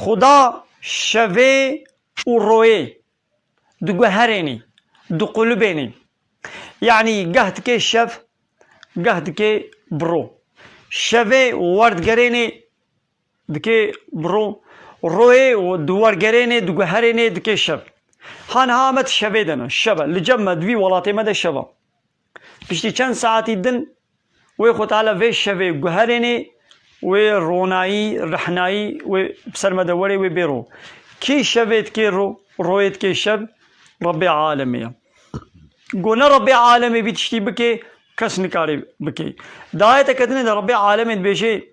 Xuda şevê û royê di guherênî, di qulubênî. Yanî geh dikê şev, geh dikê bi ro. Şevê werdigerênê dikê bi ro, royê di wergerênê, di guherênê dikê şev. Ha niha me di şevê de ne, şev e. Li cem me di vî welatê me de şev e. Piştî çend saetî din Wê Xwetala vê şevê guherênê, wê ronayî, rehnayî wê bi ser me de werê wê bêro. Kî şevê dikê ro, royê dikê şev, Rebbê Alemê ye. Ku ne Rebbê Alemê vî tiştî bikê, kes nikarê bikê. Di ayete ketinê de Rebbê Alemê dibêjê.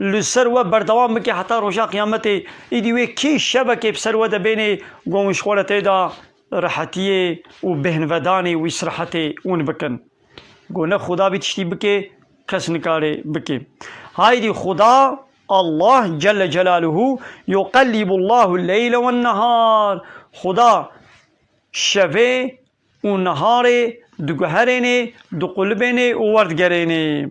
Li ser we berdewam bike heta roja qiyametê. Îdî wê kê şevekê bi ser we de bênê gon wî ji xwe re tê da rehetiyê û bêhnvedanê û îsrehetê win bikin. Got ne Xuda bî tiştî bikê kes nikarê bikê. Haydî Xuda, Allah, celle celaluhu, yuqellibullahu leyle wennehar, Xuda şevê û neharê diguherênê, diqulibênê û werdigerênê.